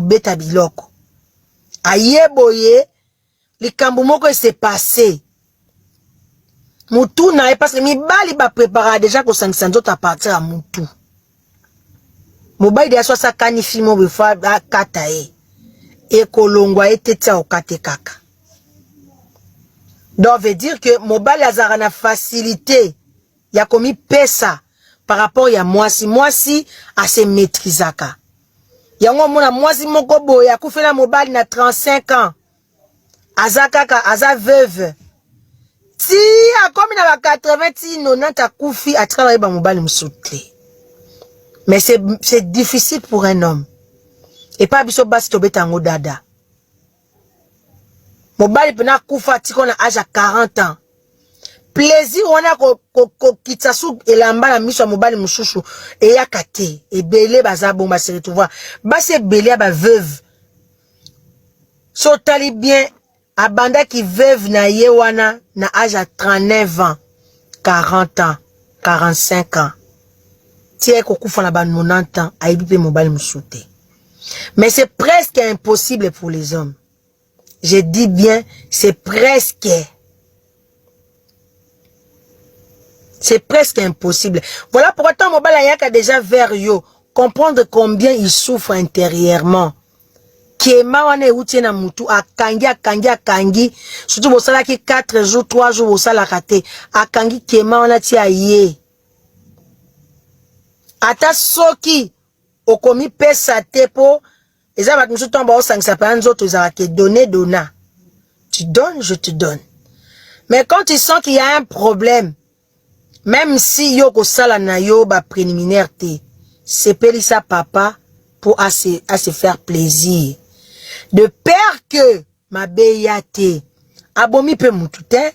kobeta biloko aye boye likambo moko ese passe mutu na ye parce que mibali bapreparaka deja kosangisa nzoto apartir ya mutu mobali deya so asakani fimo befo akata ye ekolongwa ye te tia okate kaka donc veut dire que mobali azalaka na facilité ya komipesa par rapport ya mwasi mwasi ase maîtrisaka yango omona mwasi moko boye akufela mobali na 35 ans aza kaka aza veuve ti akomi na ba 80 ti 90 akufi atikala yeba mobali mosusu te mais c'est difficile pour un homme epai biso basi tobeta yango dada mobali pena akufa atiko na age ya 40 ans plaisir wana kokitisa ko, ko su elamba na miso ya mobali mosusu eyaka te ebele baza bongo base retrouva basi ebele ya baveuve so otali bien abandaki veuve na ye wana na age ya 39 ans 40 ans 45 ans ti aye kokufa na ba 90 ans ayebi mpe mobali mosusu te Mais c'est presque impossible pour les hommes. Je dis bien, c'est presque. C'est presque impossible. Voilà pourquoi tant Mobala Yaka déjà vers yo. Comprendre combien il souffre intérieurement. Kiema wana euti na mutu akangi akangi akangi surtout bosalaki 4 jours 3 jours bosalaka te akangi kiema wana ti aye ata soki okomipesa te po eza bato mosusu ntango baosangisa mpena nzoto ezalaka ke donne dona tu donne je te donne mais quand tu sens qu'il y a un problème même si yo okosala na yo bapréliminaire te sepelisa papa mpo ase, ase faire plaisir de peur que mabe ya te abomi mpe motu te